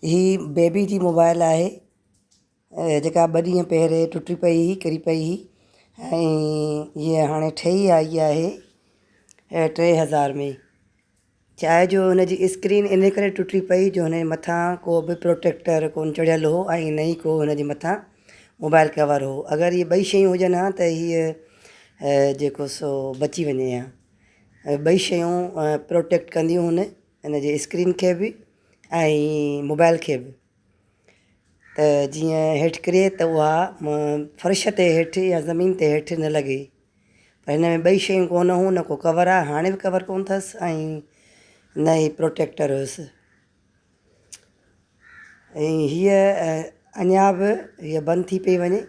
هي بيبي جي موبائل آهي جيڪا ٻه ڏينهن پهرين ٽٽي پئي هئي ڪري پئي هئي ۽ هيء هاڻي ٺهي آئي آهي ٽي هزار ۾ چاهي جو هن جي اسڪرين ان ڪري ٽٽي پئي جو هن جي مٿان ڪو به پروٽيڪٽر ڪون چڙهيل هو ۽ نه ئي ڪو هن جي مٿان موبائل ڪور هو اگر هي ٻئي شيون هجن ها ته هيء جيڪو سو بچي وڃي ها ٻئي شيون پروٽيڪٽ ڪنديون هن ان جي اسڪرين کي به ۽ موبائل کي به ته جيئن هيٺ ڪري ته اها فرش تي هيٺ يا زمين تي هيٺ نه لڳي پر هن ۾ ٻئي شيون ڪونه هون نه ڪو ڪور آهي هاڻي به ڪور ڪونه اٿس ۽ نه هي پروٽيڪٽر هيس ۽ هيء اڃا به هيء بند ٿي پئي وڃي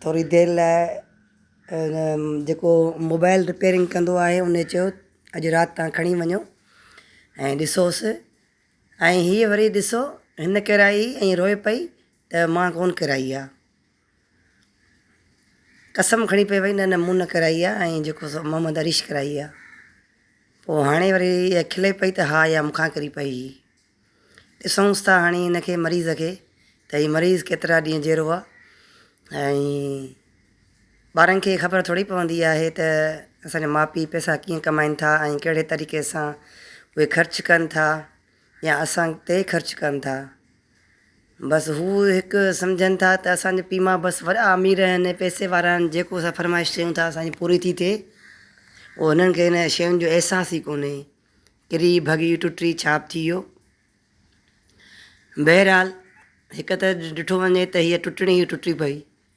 ٿوري دير لاء جيڪو موبائل رپيرنگ ڪندو آهي ان چيو اڄ رات تان کڻي وڃو ۽ ڏسوس ۽ هيء وري ڏسو هن ڪيرائي ۽ روئي پئي ته مان ڪونه ڪيرائي آ. قسم کڻي پئي وئي نه نه مون نه ڪيرائي آ ۽ جيڪو سو محمد اريش ڪيرائي آ. پوء هاڻي وري هيء کلي پئي ته ها اها مون کان ڪري پئي هئي. ڏسونس ٿا هاڻي هن کي مريض کي ته هي مريض ڪيترا ڏينهن جيئرو آ ۽ ٻارن کي خبر ٿوري پوندي آهي ته اسان جا ماء پيء پئسا ڪيئن ڪمائين ٿا ۽ ڪهڙي طريقي سان اهي خرچ ڪن ٿا يا اسان تي خرچ ڪن ٿا بس هو هڪ سمجهن ٿا ته اسان جا پيء ماء بس وڏا امير آهن پئسي وارا آهن جيڪو اسان فرمائش ڪيون ٿا اسان جي پوري ٿي ٿئي او هنن کي هن شين جو احساس ئي ڪونهي ڪري ڀڳي ٽٽي ڇاپ ٿي ويو بهرحال هڪ ته ڏٺو وڃي ته هيء ٽٽڻي ئي ٽٽي پئي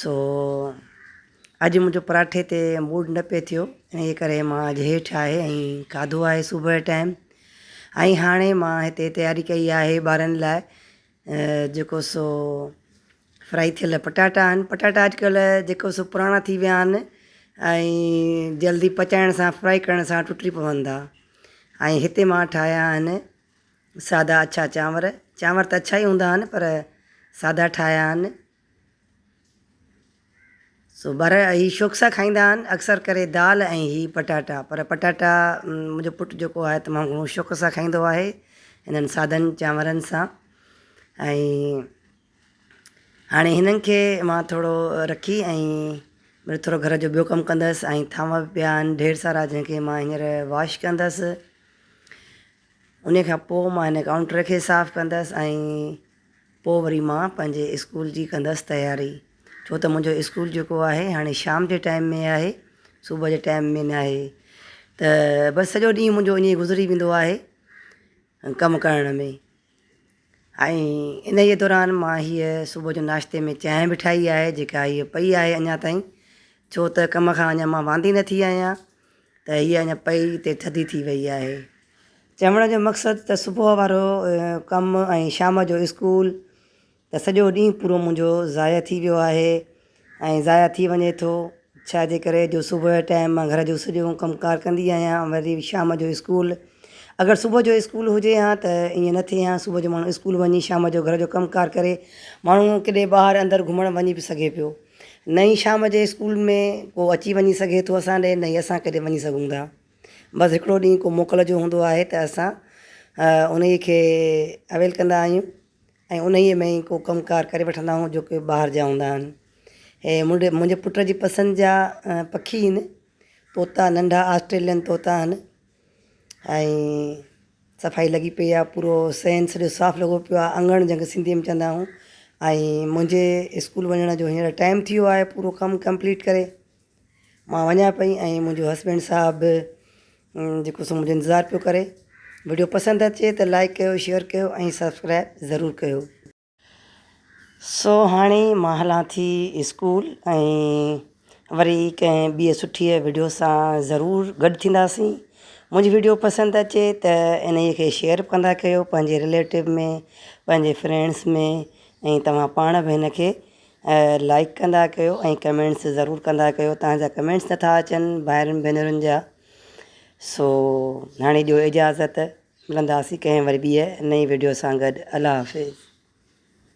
سو اڄ منهنجو پراٺي تي موڊ نه پئي ٿيو انهي ڪري مان اڄ هيٺ آهي ۽ کاڌو آهي صبح جي ٽائيم ۽ هاڻي مان هتي تياري ڪئي آهي ٻارن لاء جيڪو سو فرائي ٿيل پٽاٽا آهن پٽاٽا اڄڪلهه جيڪو سو پراڻا ٿي ويا آهن ۽ جلدي پچائڻ سان فرائي ڪرڻ سان ٽٽي پون ٿا ۽ هتي مان ٺاهيا آهن سادا اڇا چانور، چانور ته اڇا ئي هوندا آهن پر سادا ٺاهيا آهن. سو ٻار هي شوق سان کائيندا آهن اڪثر ڪري دال ۽ هي پٽاٽا پر پٽاٽا منهنجو پٽ جيڪو آهي تمام گهڻو شوق سان کائيندو آهي هنن سادن چانورن سان ۽ هاڻي هنن کي مان ٿورو رکي ۽ ٿورو گهر جو ٻيو ڪم ڪندس ۽ ٿانو به پيا آهن ڍير سارا جن کي مان هينئر واش ڪندس انهي کان پوء مان هن ڪائونٽر کي صاف ڪندس ۽ پوء وري مان پنهنجي اسڪول جي ڪندس تياري ڇو ته منهنجو اسڪول جيڪو آهي هاڻي شام جي ٽائيم ۾ آهي صبح جي ٽائيم ۾ نه آهي ته بس سڄو ڏينهن منهنجو انهي گذري ويندو آهي ڪم ڪرڻ ۾ ۽ انهيء دوران مان هيء صبح جو ناشتي ۾ چانهه به ٺاهي آهي جيڪا هيء پئي آهي اڃا تائين ڇو ته ڪم کان اڃا مان واندي نه ٿي آهيان ته هيء اڃا پئي تي ٿڌي ٿي وئي آهي. چوڻ جو مقصد ته صبح وارو ڪم ۽ شام جو اسڪول ته سڄو ڏينهن پورو منهنجو ضايع ٿي ويو آهي ۽ ضايع ٿي وڃي ٿو ڇاجي ڪري جو صبح جي ٽائيم مان گهر جو سڄو ڪم ڪار ڪندي آهيان وري شام جو اسڪول اگر صبح جو اسڪول هجي ها ته ائين نه ٿئي ها صبح جو ماڻهو اسڪول وڃي شام جو گهر جو ڪم ڪار ڪري ماڻهو ڪيڏي ٻاهر اندر گهمڻ وڃي به سگهي پيو نه ئي شام جي اسڪول ۾ ڪو اچي وڃي سگهي ٿو اسان ڏي نه ئي اسان ڪيڏي وڃي سگهون ٿا بس هڪڙو ڏينهن ڪو موڪل جو هوندو آهي ته اسان انهي کي اويل ڪندا آهيون ۽ انهيء ۾ ئي ڪو ڪم ڪار ڪري وٺندا آهيون جو ڪي ٻاهر جا هوندا آهن. هي منهنجي پٽ جي پسند جا پکي هن. طوطا ننڍا آسٽريلين طوطا هن. ۽ صفائي لڳي پئي آهي پورو صحن سڄو صاف لڳو پيو آهي اڱڻ جنهن کي سنڌيء ۾ چوندا آهيون ۽ منهنجي اسڪول وڃڻ جو هينئر ٽائيم ٿي ويو آهي پورو ڪم ڪمپليٽ ڪري. مان وڃان پئي ۽ منهنجو هسبينڊ صاحب به جيڪو سو منهنجو انتظار پيو ڪري وڊيو پسند اچي ته لائڪ ڪيو شيئر ڪيو ۽ سبسڪرائب ضرور ڪيو. سو هاڻي مان هلان ٿي اسڪول ۽ وري ڪنهن ٻي سٺي وڊيو سان ضرور گڏ ٿينداسين منهنجي وڊيو پسند اچي ته انهي کي شيئر ڪندا ڪيو پنهنجي رليٽو ۾ پنهنجي فرينڊس ۾ ۽ توهان پاڻ به هن کي لائيڪ ڪندا ڪيو ۽ ڪمينٽس ضرور ڪندا ڪيو تهان جا ڪمينٽس نٿا اچن ڀائرن ڀينرن جا سو هاڻي ڏيو اجازت ملنداسي ڪنهن وري ٻيء نئين وڊيو سان گڏ الله حافظ